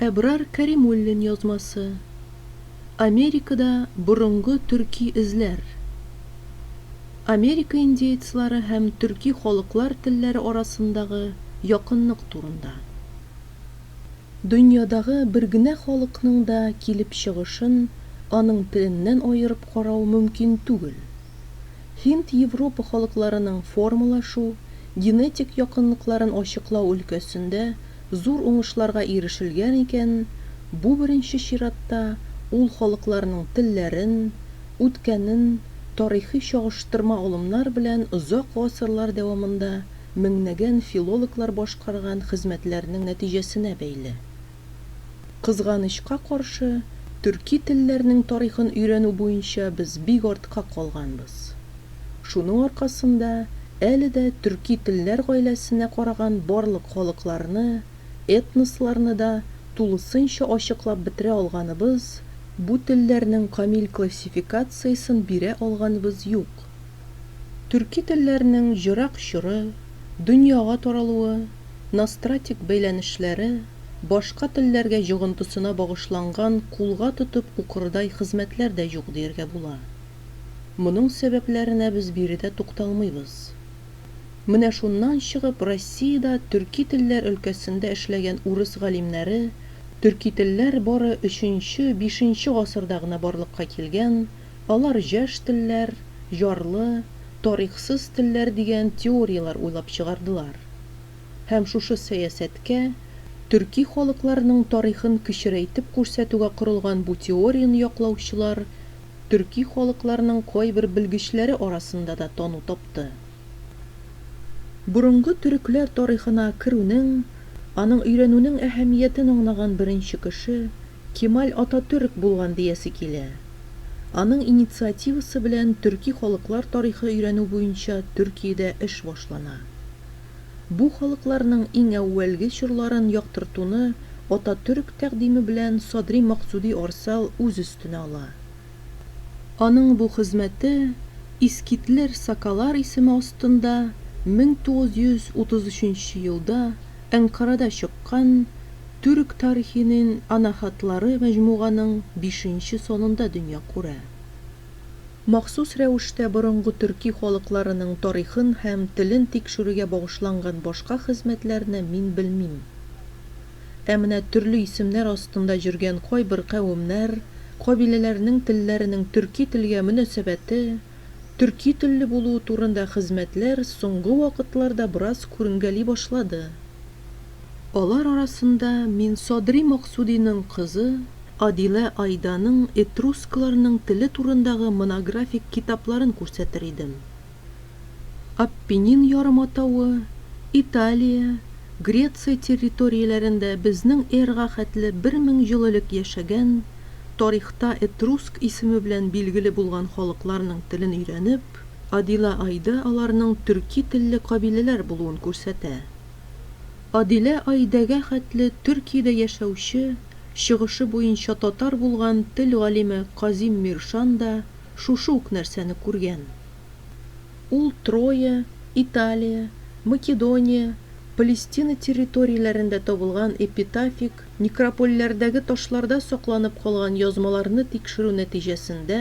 Әбрар Кәримуллин язмасы. Америкада борынгы төрки эзләр. Америка индеецлары һәм төрки халыклар телләре арасындагы якынлык турында. Дөньядагы бер генә халыкның да килеп чыгышын аның теленнән аерып карау мөмкин түгел. Һинд-Европа халыкларының формалашу, генетик якынлыкларын ачыклау өлкәсендә Зур уңышларга ирешелгән икән, бу беренче чиратта ул халыкларның телләрен, үткәнен тарихи чагыштырма алымнар белән озак гасырлар дәвамында меңнәгән филологлар башкарган хезмәтләренең нәтиҗәсенә бәйле. Кызганычка каршы, төрки телләрнең тарихын өйрәнү буенча без бик артка калганбыз. Шуның аркасында әле дә төрки телләр гаиләсенә караган барлык халыкларны, этносларны да тулысынча ачыклап бетерә алганыбыз, бу телләрнең камил классификациясен бирә алганыбыз юк. Төрки телләрнең җырак чоры, дөньяга таралуы, ностратик бәйләнешләре, башка телләргә җогынтысына багышланган кулга тотып укырдай хезмәтләр дә юк дияргә була. Моның сәбәпләренә без биредә тукталмыйбыз. Менә шуннан чыгып, Россиядә төрки телләр өлкәсендә эшләгән урыс галимнәре, төрки телләр бары өченче, бишенче гасырда гына барлыкка килгән, алар җәш телләр, җарлы, тарихсыз телләр дигән теорияләр уйлап чыгардылар. Һәм шушы сәясәткә, төрки халыкларның тарихын кечерәйтеп күрсәтүгә корылган бу теорияне яклаучылар төрки халыкларның кайбер белгечләре арасында да тану тапты. Борынгы төрекләр тарихына керүнең, аның өйрәнүнең әһәмиятен аңлаган беренче кеше Кемаль Ататөрк булган диясе килә. Аның инициативасы белән төрки халыклар тарихы өйрәнү буенча Төркиядә эш башлана. Бу халыкларның иң әүвәлге чорларын яктыртуны Ататөрк тәкъдиме белән Садри Максуди Арсал үз өстенә ала. Аның бу хезмәте Искитлер Сакалар исеме астында 1933 елда Әнкарада чыккан Түрк тарихинин анаһатлары мәҗмуганың бишенче санында дөнья күрә. Махсус рәвештә борынгы төрки халыкларының тарихын һәм телен тикшерүгә багышланган башка хезмәтләрне мин белмим. Ә менә төрле исемнәр астында җөргән кайбер кавемнәр, кабиләләрнең телләренең төрки телгә мөнәсәбәте, төрки телле булуы турында хезмәтләр соңгы вакытларда бераз күренгәли башлады. Алар арасында мин Садри Максудиның кызы Адилә Айданың этрускларның теле турындагы монографик китапларын күрсәтер идем. Аппенин ярыматавы, Италия, Греция территорияләрендә безнең эрга хәтле бер мең ел элек яшәгән, тарихта этруск исеме белән билгеле булган халыкларның телен өйрәнеп, Адилә Айда аларның төрки телле кабиләләр булуын күрсәтә. Адилә Аидәгә хәтле Төркиядә яшәүче, чыгышы буенча татар булган тел галиме Казим Миршан да шушы ук нәрсәне күргән. Ул Троя, Италия, Македония, Палестина территорияләрендә табылган эпитафик некропольләрдәге ташларда сакланып калган язмаларны тикшерү нәтиҗәсендә,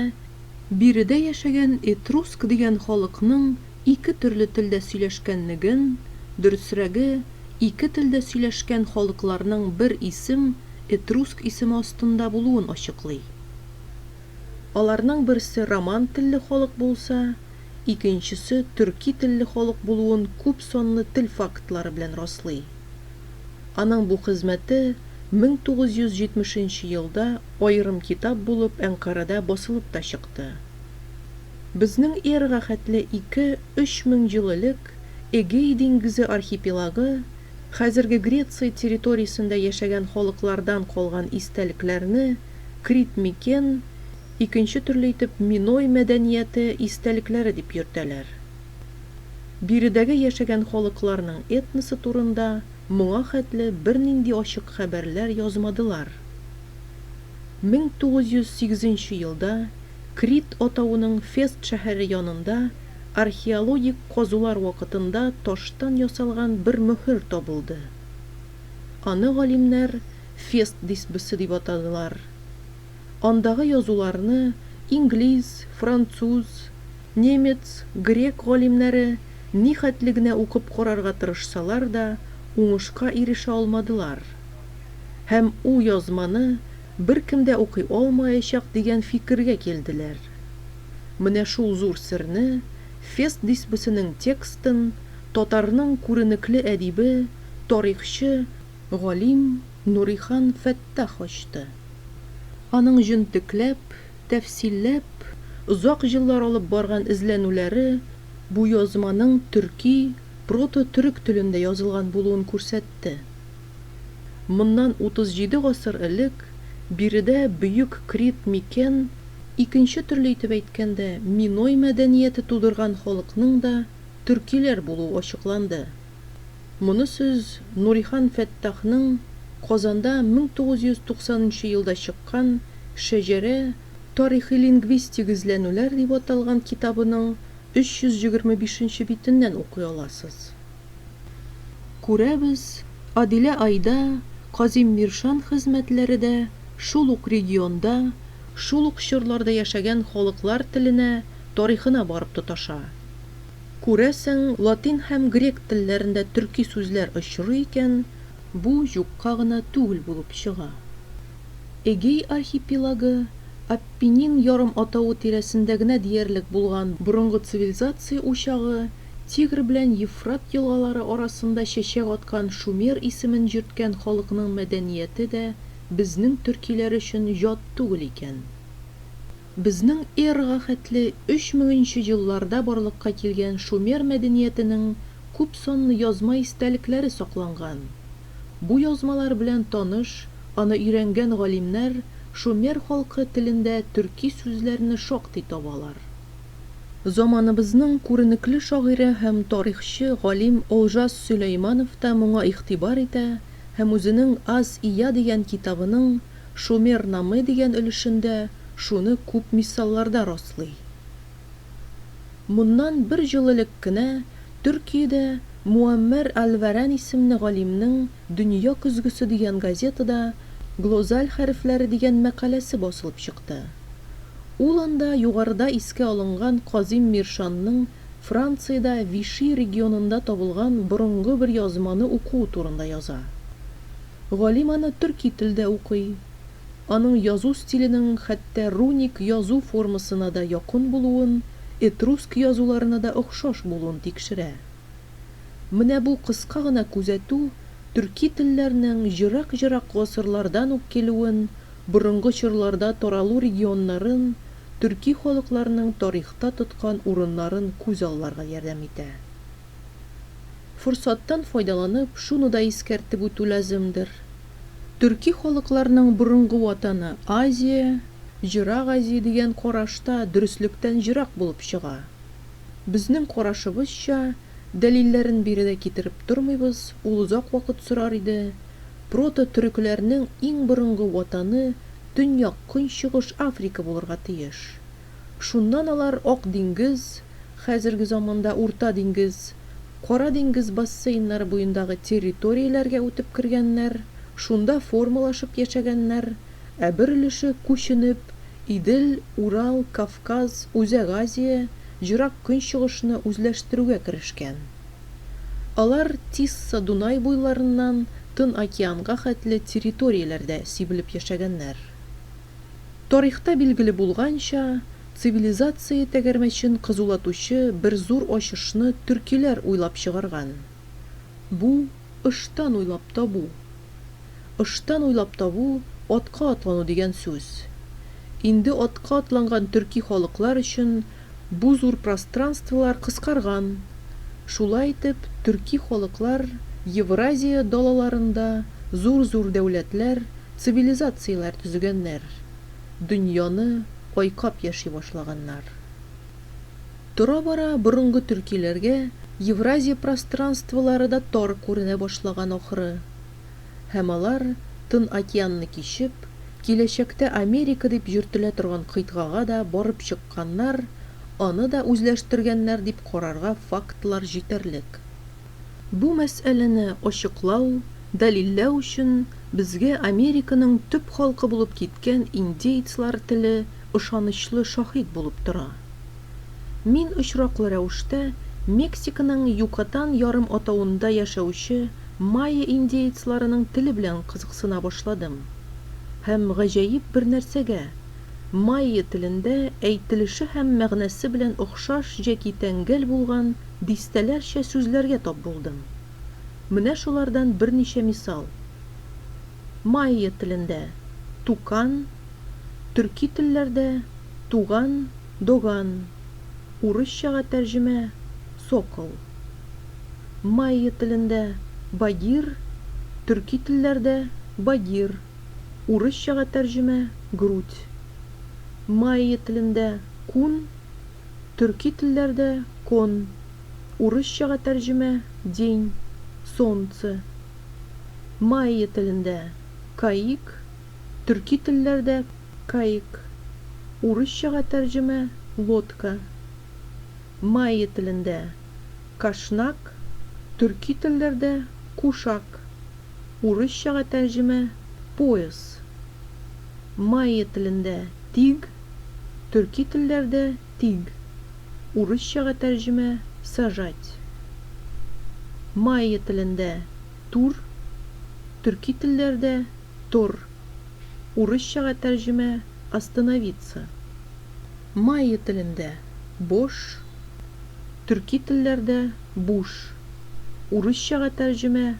биредә яшәгән этруск дигән халыкның Ике төрле телдә сөйләшкәнлеген, дөресрәге, ике телдә сөйләшкән халыкларның бер исем, этруск исеме астында булуын ачыклый. Аларның берсе роман телле халык булса, икенчесе төрки телле халык булуын күп санлы тел фактлары белән раслый. Аның бу хезмәте 1970 нче елда аерым китап булып Әнкарада басылып та чыкты. Безнең эргәхәтле ике, өч мең ел элек Эгей диңгезе архипелагы, хәзерге Греция территориясендә яшәгән халыклардан калган истәлекләрне Крит микен, икенче төрле итеп Миной мәдәнияте истәлекләре дип йөртәләр. Биредәге яшәгән халыкларның этносы турында моңа хәтле бернинди ачык хәбәрләр язмадылар. Мең тугыз йөз сигезенче елда Крит атавының Фест шәһәре янында археологик казулар вакытында таштан ясалган бер мөһер табылды. Аны галимнәр Фест дисбысы дип атадылар. Андагы язуларны инглиз, француз, немец, грек галимнәре нихәтле генә укып карарга тырышсалар да, уңышка ирешә алмадылар һәм у язманы Беркем дә укый алмаячак дигән фикергә килделәр. Менә шул зур серне, Фест дисбесенең текстын татарның күренекле әдибе, тарихчы, галим Нурихан Фәттах ачты. Аның җентекләп, тәфсилләп, озак еллар алып барган эзләнүләре бу язманың төрки, прото-төрек телендә язылган булуын күрсәтте. Моннан 37 гасыр элек биредә бөек Крит микен, икенче төрле итеп әйткәндә, миной мәдәнияте тудырган халыкның да төркиләр булуы ачыкланды. Моны сез Нурихан Фәттахның Казанда 1990 нчы елда чыккан Шәҗәрә, тарихи-лингвистик эзләнүләр дип аталган китабының 325 нче битеннән укый аласыз. Күрәбез, Адилә Айда, Казим Миршан хезмәтләре дә шул ук регионда, шул ук чорларда яшәгән халыклар теленә, тарихына барып тоташа. Күрәсең, латин һәм грек телләрендә төрки сүзләр очрый икән, бу юкка гына түгел булып чыга. Эгей архипелагы, Аппенин ярым атавы тирәсендә генә диярлек булган борынгы цивилизация учагы, Тигр белән Ефрат елгалары арасында чәчәк аткан шумер исемен йөрткән халыкның мәдәнияте дә безнең төркиләр өчен ят түгел икән. Безнең эрага хәтле өч меңенче елларда барлыкка килгән шумер мәдәниятенең күп санлы язма истәлекләре сакланган. Бу язмалар белән таныш, аны өйрәнгән галимнәр шумер халкы телендә төрки сүзләрне шактый табалар. Заманыбызның күренекле шагыйре һәм тарихчы, галим Олжас Сөләйманов та моңа игътибар итә һәм үзенең Аз Ия дигән китабының Шумер Намы дигән өлешендә шуны күп мисалларда раслый. Моннан бер ел элек кенә Төркиядә Муаммәр әл-Вәрән исемле галимнең Дөнья көзгесе дигән газетада Глозаль хәрефләре дигән мәкаләсе басылып чыкты. Ул анда югарыда искә алынган Казим Миршанның Франциядә Виши регионында табылган борынгы бер язманы укуы турында яза. Галим аны төрки телдә укый. Аның язу стиленең хәтта руник язу формасына да якын булуын, этруск язуларына да охшаш булуын тикшерә. Менә бу кыска гына күзәтү төрки телләрнең ерак-ерак гасырлардан ук килүен, борынгы чорларда таралу регионнарын, төрки халыкларның тарихта тоткан урыннарын күз алларга ярдәм итә. Форсаттан файдаланып, шуны да искәртеп үтү лаземдер, төрки халыкларның борынгы ватаны Азия, Ерак Азия дигән караш та дөреслектән ерак булып чыга. Безнең карашыбызча, дәлилләрен бире дә китереп тормыйбыз, ул озак вакыт сорар иде. Прото-төрекләрнең иң борынгы ватаны Төньяк-Көнчыгыш Африка булырга тиеш. Шуннан алар Ак диңгез, хәзерге заманда Урта диңгез, Кара диңгез бассейннары буендагы территорияләргә үтеп кергәннәр, шунда формалашып яшәгәннәр, ә бер өлеше күченеп, Идел, Урал, Кавказ, Үзәк Азия, Җырак Көнчыгышны үзләштерүгә керешкән. Алар Тисса Дунай буйларыннан Тын океанга хәтле территорияләрдә сибелеп яшәгәннәр. Тарихта билгеле булганча, цивилизация тәгәрмәчен кызулатучы бер зур ачышны төркиләр уйлап чыгарган. Бу, ыштан уйлап табу. Ыштан уйлап табу, атка атлану дигән сүз. Инде атка атланган төрки халыклар өчен бу зур пространстволар кыскарган. Шулай итеп, төрки халыклар Евразия далаларында зур-зур дәүләтләр, цивилизацияләр төзегәннәр, дөньяны айкап яши башлаганнар. Тора-бара борынгы төркиләргә Евразия пространстволары да тар күренә башлаган ахры. Һәм алар, Тын океанны кичеп, киләчәктә Америка дип йөртелә торган кыйтгага да барып чыкканнар, аны да үзләштергәннәр дип карарга фактлар җитәрлек. Бу мәсьәләне ачыклау, дәлилләү өчен безгә Американың төп халкы булып киткән индеецлар теле ышанычлы шаһит булып тора. Мин очраклы рәвештә Мексиканың Юкатан ярым атавында яшәүче майя индеецларының теле белән кызыксына башладым һәм гаҗәеп бер нәрсәгә, майя телендә әйтелеше һәм мәгънәсе белән охшаш җәки тәңгәл булган Дистәләрчә сүзләргә тап булдым. Менә шулардан берничә мисал. Майя телендә, тукан, төрки телләрдә, туган, доган, урысчага тәрҗемә, сокол. Майя телендә, багир, төрки телләрдә, багир, урысчага тәрҗемә, грудь. Майя телендә, кун. Төрки телләрдә кон, урысчага тәрҗемә, день, солнце. Майя телендә каик, төрки телләрдә каек, урысчага тәрҗемә, лодка. Майя телендә кашнак, төрки телләрдә кушак. Урысчага тәрҗемә Пояс. Майя телендә Тиг, төрки телләрдә Тиг. Урысчага тәрҗемә Сажать. Майя телендә Тур, төрки телләрдә Тор. Урысчага тәрҗемә Остановиться. Майя телендә Бош, төрки телләрдә Буш. Урысчага тәрҗемә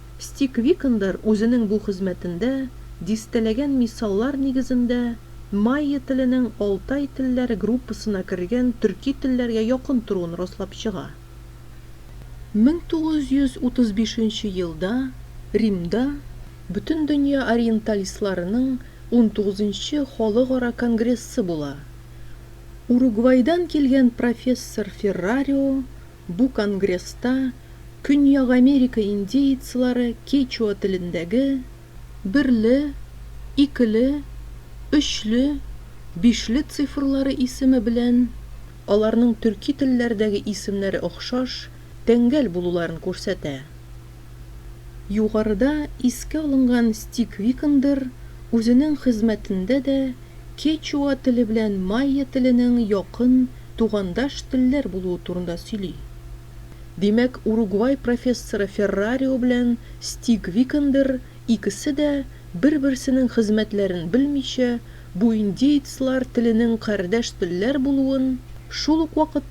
Стик Викандер үзенең бу хезмәтендә дистәләгән мисаллар нигезендә майя теленең алтай телләре группасына кергән төрки телләргә якын торуын раслап чыга. 1935 нче елда Римда Бөтендөнья ориенталистларының унтугыз нчы халыкара конгрессы була. Уругвайдан килгән профессор Феррарио Бу конгресста Көньяк Америка индеецлары кечуа телендәге берле, икеле, өчле, бишле цифрлары исеме белән аларның төрки телләрдәге исемнәре охшаш, тәңгәл булуларын күрсәтә. Югарыда искә алынган Стик Викандер үзенең хезмәтендә дә кечуа теле белән майя теленең якын, тугандаш телләр булуы турында сөйли. Димәк, Уругвай профессоры Феррарио белән Стик Викандер икесе дә, бер-берсенең хезмәтләрен белмичә, бу индеецлар теленең кардәш телләр булуын, шул ук вакытта,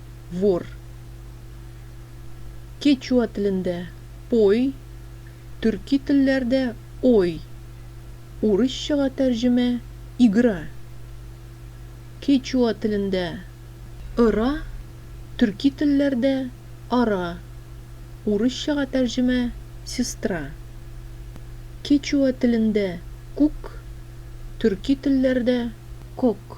вор. Кечуа телендә, пой, төрки телләрдә, ой, урысчага тәрҗемә, игра. Кечуа телендә, ыра, төрки телләрдә, ара, урысчага тәрҗемә, сестра. Кечуа телендә, күк, төрки телләрдә, кок.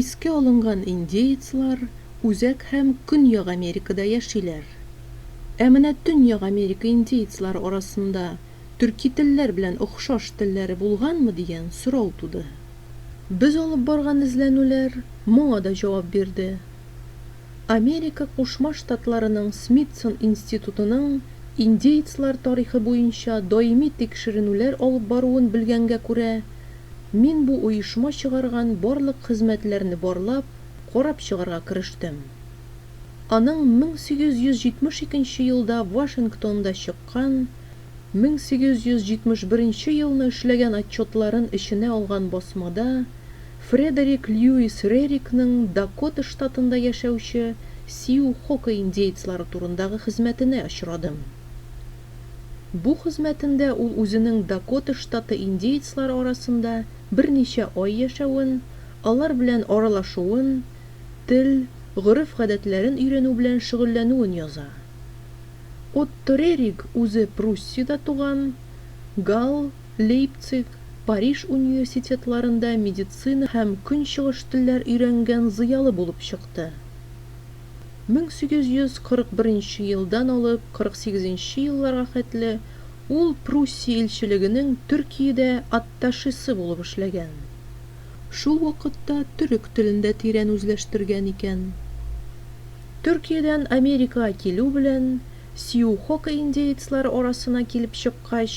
Искә алынган индеецлар Үзәк һәм Көньяк Америкада яшиләр. Ә менә Төньяк Америка индеецлары арасында төрки телләр белән охшаш телләре булганмы дигән сорау туды. Без алып барган эзләнүләр моңа да җавап бирде. Америка Кушма Штатларының Смитсон институтының индеецлар тарихы буенча даими тикшеренүләр алып баруын белгәнгә күрә, Мин бу оешма чыгарган барлык хезмәтләрне барлап, карап чыгарга керештем. Аның 1872 елда Вашингтонда чыккан, 1871 елны эшләгән отчетларын эченә алган басмада Фредерик Льюис Рерикның Дакота штатында яшәүче Сиу-Хока индеецлары турындагы хезмәтенә очрадым. Бу хезмәтендә ул үзенең Дакота штаты индеецлар арасында берничә ай яшәвен, алар белән аралашуын, тел, гореф-гадәтләрен өйрәнү белән шөгыльләнүен яза. Отто Рериг үзе Пруссиядә туган, Гал, Лейпциг, Париж университетларында медицина һәм көнчыгыш телләр өйрәнгән зыялы булып чыкты. 1841 нче елдан алып 48 нче елларга хәтле ул Пруссия илчелегенең Төркиядә атташесы булып эшләгән. Шул вакытта төрек телен дә тирән үзләштергән икән. Төркиядән Америкага килү белән, сиухока индеецлары арасына килеп чыккач,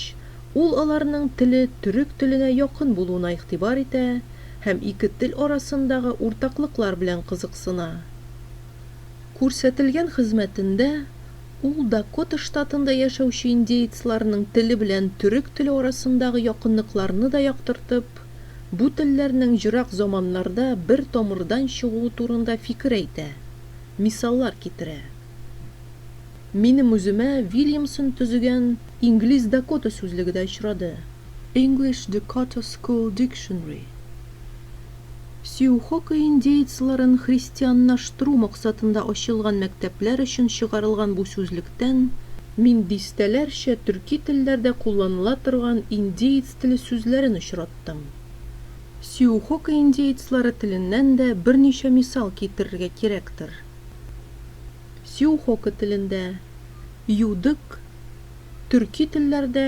ул аларның теле төрек теленә якын булуына игътибар итә һәм ике тел арасындагы уртаклыклар белән кызыксына. Күрсәтелгән хезмәтендә ул Дакота штатында яшәүче индеецларның теле белән төрек теле арасындагы якынлыкларны да яктыртып, бу телләрнең ерак заманнарда бер тамырдан чыгуы турында фикер әйтә, мисаллар китерә. Минем үземә Вильямсон төзегән Инглиз-Дакота сүзлеге дә очрады. English Dakota School Dictionary, Сиухока индеецларын христианнаштыру максатында ачылган мәктәпләр өчен чыгарылган бу сүзлектән мин дистәләрчә төрки телләрдә кулланыла торган индеец теле сүзләрен очраттым. Сиухока индеецлары теленнән дә берничә мисал китерергә кирәктер. Сиухока телендә, Юдык, төрки телләрдә,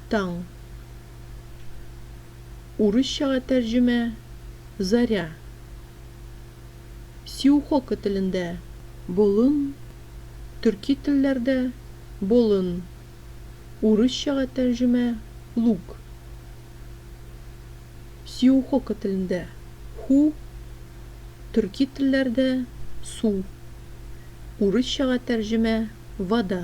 Таң. Урысчага тәрҗемә, Заря. Сиухоко телендә, Болын, төрки телләрдә, Болын, урысчага тәрҗемә, Луг. Сиухоко телендә, Ху, төрки телләрдә, Су, урысчага тәрҗемә, Вода.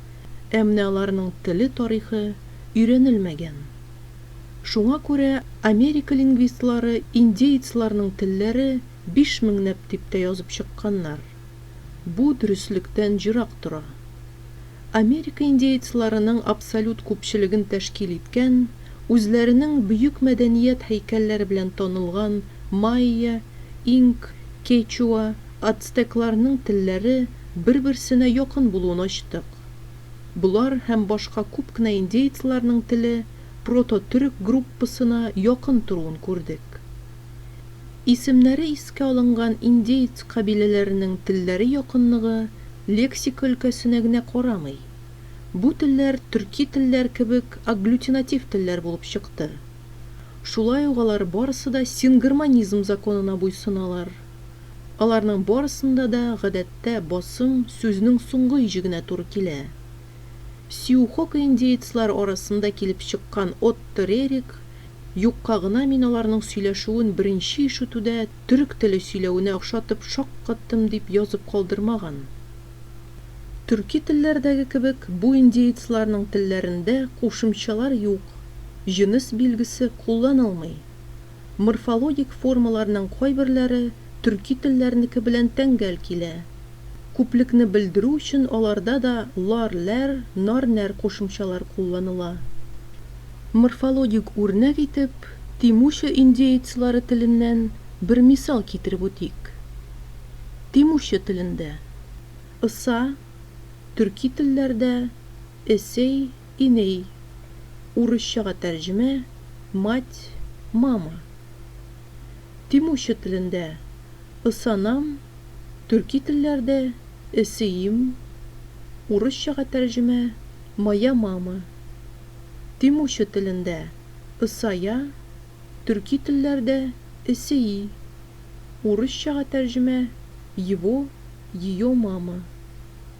Ә менә аларның теле тарихы өйрәнелмәгән. Шуңа күрә Америка лингвистлары индеецларның телләре биш меңнәп дип тә язып чыкканнар. Бу дөреслектән ерак тора. Америка индеецларының абсолют күпчелеген тәшкил иткән, үзләренең бөек мәдәният һәйкәлләре белән танылган майя, инк, кечуа, Ацтекларның телләре бер-берсенә якын булуын ачтык. Болар һәм башка күп кенә индеецларның теле прото-төрек группасына якын торуын күрдек. Исемнәре искә алынган индеец кабиләләренең телләре якынлыгы лексика өлкәсенә генә карамый. Бу телләр төрки телләр кебек агглютинатив телләр булып чыкты. Шулай ук алар барысы да сингармонизм законына буйсыналар. Аларның барысында да, гадәттә, басым сүзнең соңгы иҗегенә туры килә. Сиухокиндеецлар арасында килеп чыккан Отто Рерик, Юкка гына мин аларның сөйләшүен беренче ишетүдә төрек теле сөйләвенә охшатып шаккаттым дип язып калдырмаган. Төрки телләрдәге кебек, бу индеецларның телләрендә кушымчалар юк, җенес билгесе кулланылмый. Морфологик формаларның кайберләре төрки телләрнеке белән тәңгәл килә. Күплекне белдерү өчен аларда да лар, ләр, нар, нәр кушымчалар кулланыла. Морфологик үрнәк итеп Тимуча индеецлары теленнән бер мисал китереп үтик. Тимуча телендә, ыса, төрки телләрдә, эсей, Иней, урысчага тәрҗемә, мать, мама. Тимурчы телендә, ысанам, төрки телләрдә, эсеим, урысчага тәрҗемә, моя мама. Тимурчы телендә, ысая, төрки телләрдә, эсеи, урысчага тәрҗемә, его, ее мама.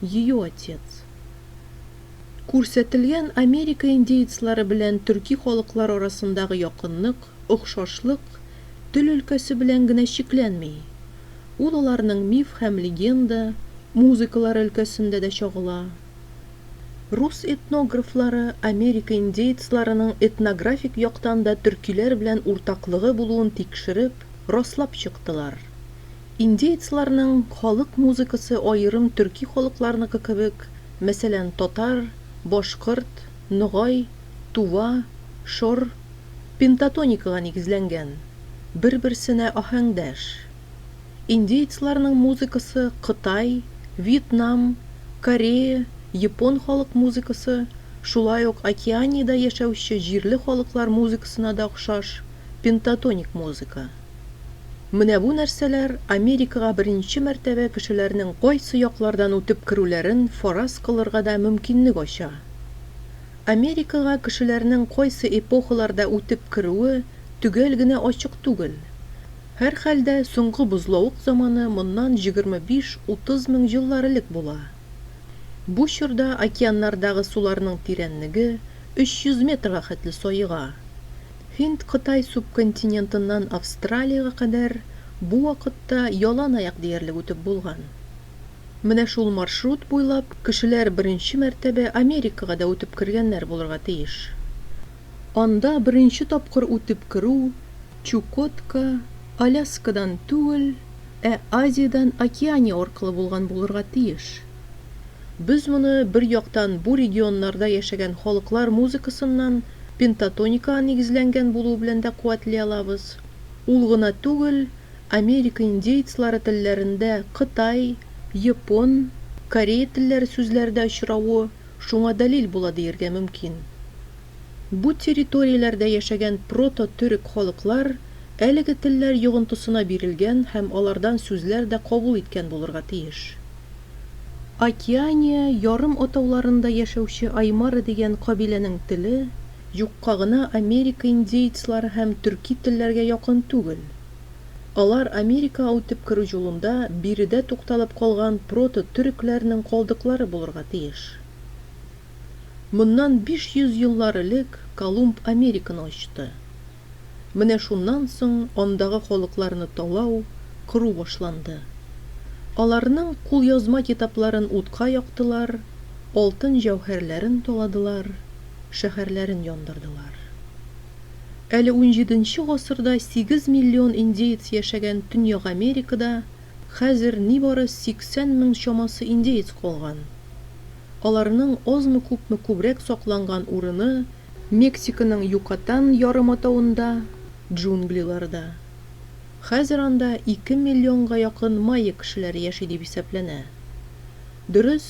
Ее отец. Күрсәтелгән Америка индеецлары белән төрки халыклар арасындагы якынлык, охшашлык тел өлкәсе белән генә чикләнми. Ул аларның миф һәм легенда, музыкалары өлкәсендә дә чагыла. Рус этнографлары Америка индеецларының этнографик яктан да төркиләр белән уртаклыгы булуын тикшереп, раслап чыктылар. Индеецларның халык музыкасы аерым төрки халыкларныкы кебек, мәсәлән, татар, башкорт, ногай, тува, шор, пентатоникага нигезләнгән, бер-берсенә аһәңдәш. Индеецларның музыкасы кытай, вьетнам, корея, япон халык музыкасы, шулай ук Океаниядә яшәүче җирле халыклар музыкасына да охшаш, пентатоник музыка. Менә бу нәрсәләр Америкага беренче мәртәбә кешеләрнең кайсы яклардан үтеп керүләрен фараз кылырга да мөмкинлек ача. Америкага кешеләрнең кайсы эпохаларда үтеп керүе төгәл генә ачык түгел. Һәрхәлдә, соңгы бозлавык заманы моннан җигерме биш-утыз мең еллар элек була. Бу чорда океаннардагы суларның тирәнлеге өч йөз метрга хәтле саега. Һинд-Кытай субконтинентыннан Австралиягә кадәр бу вакытта ялан аяк диярлек үтеп булган. Менә шул маршрут буйлап кешеләр беренче мәртәбә Америкага да үтеп кергәннәр булырга тиеш. Анда беренче тапкыр үтеп керү Чукотка, Аляскадан түгел, ә Азиядән Океания аркылы булган булырга тиеш. Без моны бер яктан бу регионнарда яшәгән халыклар музыкасыннан, пентатоникага нигезләнгән булуы белән дә куәтли алабыз. Ул гына түгел, Америка индеецлары телләрендә кытай, япон, корея телләре сүзләре дә очравы шуңа дәлил була диергә мөмкин. Бу территорияләрдә яшәгән прото-төрек халыклар әлеге телләр йогынтысына бирелгән һәм алардан сүзләр дә кабул иткән булырга тиеш. Океания ярым атауларында яшәүче аймара дигән кабиләнең теле юкка гына Америка индеецлары һәм төрки телләргә якын түгел. Алар Америкага үтеп керү юлында биредә тукталып калган прото-төрекләрнең калдыклары булырга тиеш. Моннан 500 еллар элек Колумб Американы ачты. Менә шуннан соң андагы халыкларны талау, кыру башланды. Аларның кулъязма китапларын утка яктылар, алтын-җәүһәрләрен таладылар, шәһәрләрен яндырдылар. Әле унҗиденче гасырда сигез миллион индеец яшәгән Төньяк Америкада хәзер нибары сиксән мең чамасы индеец калган. Аларның азмы-күпме күбрәк сакланган урыны Мексиканың Юкатан ярыматавында, джунглиларда. Хәзер анда ике миллионга якын майя кешеләре яши дип исәпләнә. Дөрес,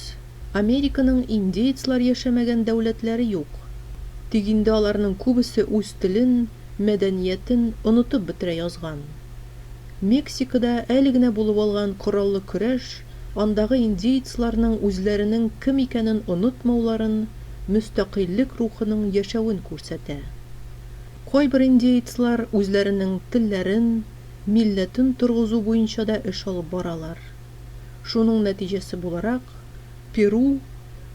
Американың индеецлар яшәмәгән дәүләтләре юк. Тик инде аларның күбесе үз телен, мәдәниятен онытып бетерә язган. Мексикада әле генә булып алган кораллы көрәш андагы индеецларның үзләренең кем икәнен онытмауларын, мөстәкыйльлек рухының яшәвен күрсәтә. Кайбер индеецлар үзләренең телләрен, милләтен торгызу буенча да эш алып баралар. Шуның нәтиҗәсе буларак, Перу,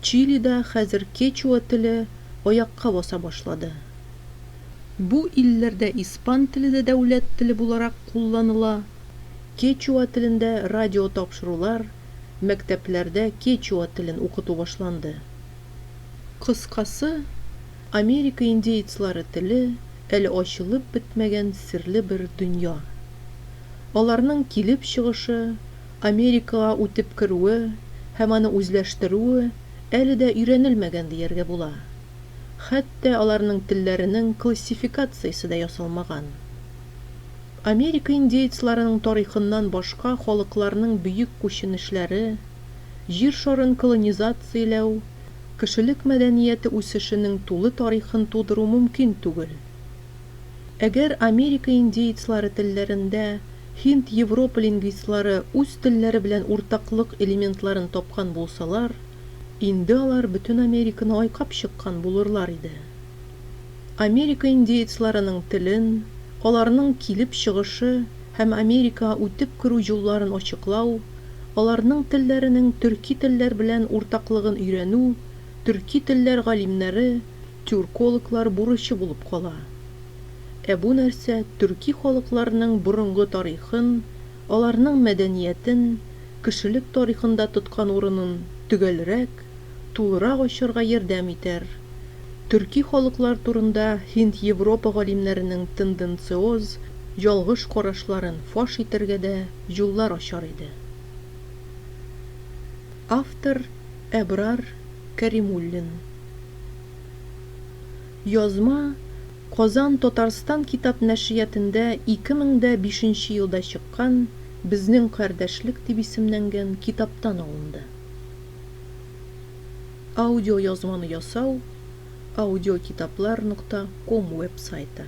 Чилида хәзер кечуа теле аякка баса башлады. Бу илләрдә испан теле дә дәүләт теле буларак кулланыла. Кечуа телендә радиотапшырулар, мәктәпләрдә кечуа телен укыту башланды. Кыскасы, Америка индеецлары теле, әле ачылып бетмәгән серле бер дөнья. Аларның килеп чыгышы, Америкага үтеп керүе һәм аны үзләштерүе әле дә өйрәнелмәгән дияргә була. Хәтта аларның телләренең классификациясе дә ясалмаган. Америка индеецларының тарихыннан башка халыкларның бөек күченешләре, Җир шарын колонизацияләү, кешелек мәдәнияте үсешенең тулы тарихын тудыру мөмкин түгел. Әгәр Америка индеецлары телләрендә һинд-европа лингвистлары үз телләре белән уртаклык элементларын тапкан булсалар, инде алар бөтен Американы айкап чыккан булырлар иде. Америка индеецларының телен, аларның килеп чыгышы һәм Америка үтеп керү юлларын ачыклау, аларның телләренең төрки телләр белән уртаклыгын өйрәнү төрки телләр галимнәре, тюркологлар бурычы булып кала. Ә бу нәрсә төрки халыкларның борынгы тарихын, аларның мәдәниятен, кешелек тарихында тоткан урынын төгәлрәк, тулырак ачарга ярдәм итәр. Төрки халыклар турында Һинд-Европа галимнәренең тенденциоз, ялгыш карашларын фаш итәргә дә юллар ачар иде. Автор, Әбрар Кәримуллин. Язма Казан Татарстан китап нәшриятендә ике мең дә бишенче елда чыккан Безнең кардәшлек дип исемнәнгән китаптан алынды. Аудиоязманы ясау, Аудиокитаплар нокта ком веб-сайты.